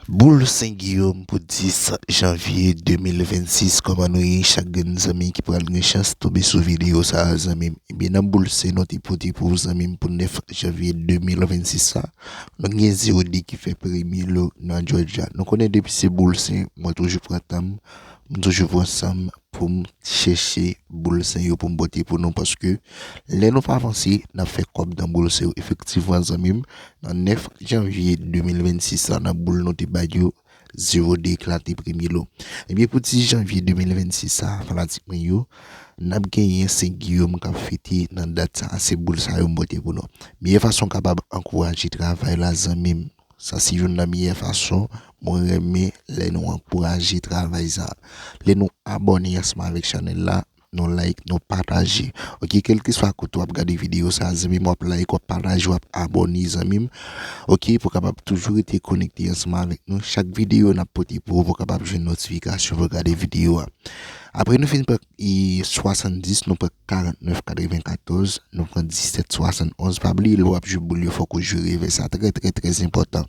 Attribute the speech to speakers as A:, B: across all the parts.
A: Boul Sen Giyom pou 10 janvye 2026 kòman nou ye chak grenn zanmi ki pral gen chans tonbe sou videyo sa zanmim ebyen nan boul sen nou te pote pou ou zanmim pou 9 janvye 2026 sa nou gen Zeody ki fè premye lo nan Jòjya nou konnen depi se boul sen mwen toujou pran tanm m toujou pran sanm poum chèche boul sen yo poum pote pou nou paske lè nou pa vanse nap fè kòb nan boul sen yo efektivman zanmim Nan 9 janvye 2026 la nan boul nou te bay yo, zero de eklate premye lo. Ebyen pou 10 janvye 2026 sa a fanatik mwen yo, nap genyen Sen Giyom kap fete nan dat sa a, se boul sa yo m pote pou nou. Meyè fason kapab ankouraje travay la zanmim. Sa se youn nan meyè fason mwen renmen lè nou ankouraje travay sa a. Lè nou abòne ansanm avèk chanèl la, Nou like nou pataje ok kelkeswa kote wap gade video sa zanmim wap like wap pataje wap abone zanmim ok pou kapab toujou rete konekte ansanm avèk nou chak video nap pote pou ou pou kapab jwenn notifikasyon pou gade video a aprè nou finn pran 70 nou pran 49 94 nou pran 17 71 pa bliye lè wap jwe boul yo fòk ou jwe revè sa trè trè trè enpòtan.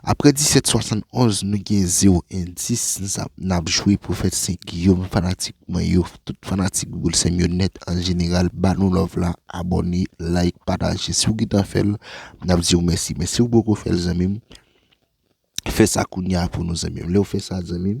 A: Aprè 1771 nou gen zero endis nap jwe pwofèt sen giyom fanatik mwen yo tout fanatik boul sèm yo nèt an jeneral ba nou love la abòne like pataje siw gentan fèl nap diw mèsi men siw poko fèl zanmim fèsa kounya pou nou zanmim lèw fèsa zanmim.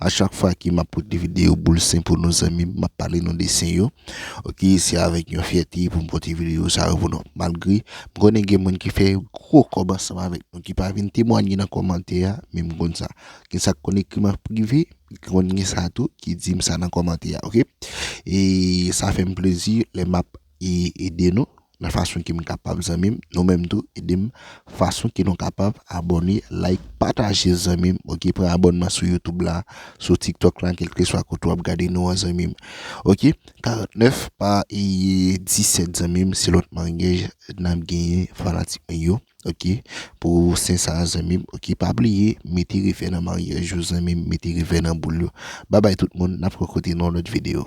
A: A chak fwa ke map pote video boul sen pou nou zanmim map pale nou de sen yo ok se avèk yon fyète poum pote video sa yo pou nou malgre m konnen gen moun ki fè gro kòb ansanm avèk nou ki pa vin temwanye nan kòmantè a men m konn sa gen sak konn ekrim an prive konn gen sa tou ki dim sa nan kòmantè a ok e sa fèm plezi lè map ede nou nan fason kem kapab zanmim nou menm tou edem fason ke nou kapab abòne like pataje zanmim ok pran abònman sou youtube la sou tiktok la kelkeswa kote wap gade nou an zanmim ok 49 pa 17 zanmim se lòt mangèj nap genyen fanatik mwen yo ok pou sen sa zanmim ok pa bliye mete refè nan mangèj yo zanmim mete refè nan boul yo babay tout moun nap kokote nan lòt video.